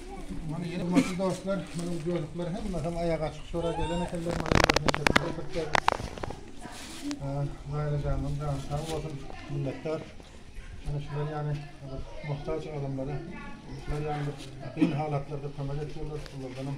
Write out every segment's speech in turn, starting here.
Hormatly dostlar, munuň ýörükleri hemme hem aýak açyk şora gelen ekenler, mana ýörüp neçesini getirip berdik. Naýla janyň jany sag bolsun, minnetdar. Ana şular ýaly muhtaç adamlara, şular ýaly kyn halatlarda kömek etýärler, şulardan hem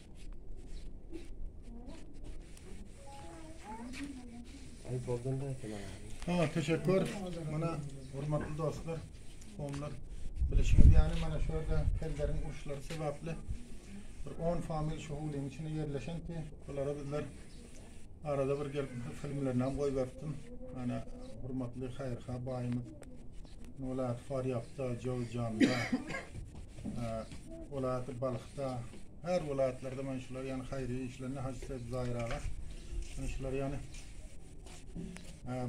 Saňa teşekkür. Mana hormatly dostlar, komlar bilişiňiz ýaly mana şu ýerde kelleriň uruşlary sebäpli bir 10 famil şu howlyň içinde ýerleşen ki, bulara bizler arada bir gelip filmlerini hem goýberipdim. Mana hormatly haýyrha baýymyz welaýat Farýapda, Jowzjanda, welaýat Balhda, her welaýatlarda men şular ýany haýyr işlerini Hajy Seýit Zaýir aga men şular ýany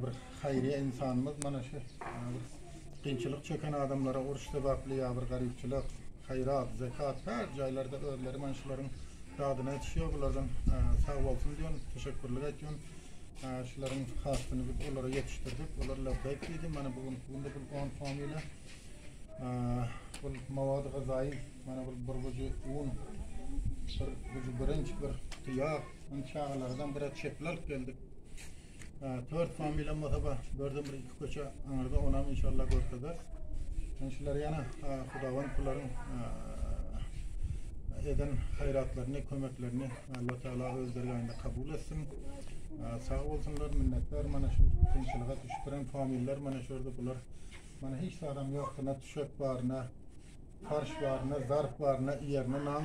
bir haýyr insanymyz mana şu kynçylyk çeken adamlara uruş sebäpli ýa bir garypçylyk, haýrat, zekat her jaýlarda özleri men şularyň dadyna etişýär bulardan sag bolsun diýen teşekkürlik etýän. Şularyň hasylyny biz olara ýetişdirdik. Olar labbeýk diýdi. Mana bu günki günde bu on som ile bul mawady-gyzaýy, mana bul bir gujy un, bir gujy birinç, bir guty ýag, indi çagalardan biraz çepil alyp geldik. Tört som bilen bolsa bar, dörden bir iki köçe aňyrda, onam inşallah görkezer. Indi şular ýene hudawand bularyň eden haýratlaryny, kömeklerini Alla Taala öz dergähinde kabul etsin. Sag bolsunlar, minnetdar mana şu kynçylyga düşüpdiren familler mana şu ýerde bular. Mana hiç zadam ýokdy, ne tüşek bar, ne farş bar, ne zarp bar, ne ýerine nan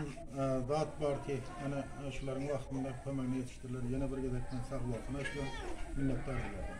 zat bar ki, ana şularyň wagtynda kömegine ýetişdirler. Ýene bir gezekden sag bolsun aýtýan, minnetdar bulardan.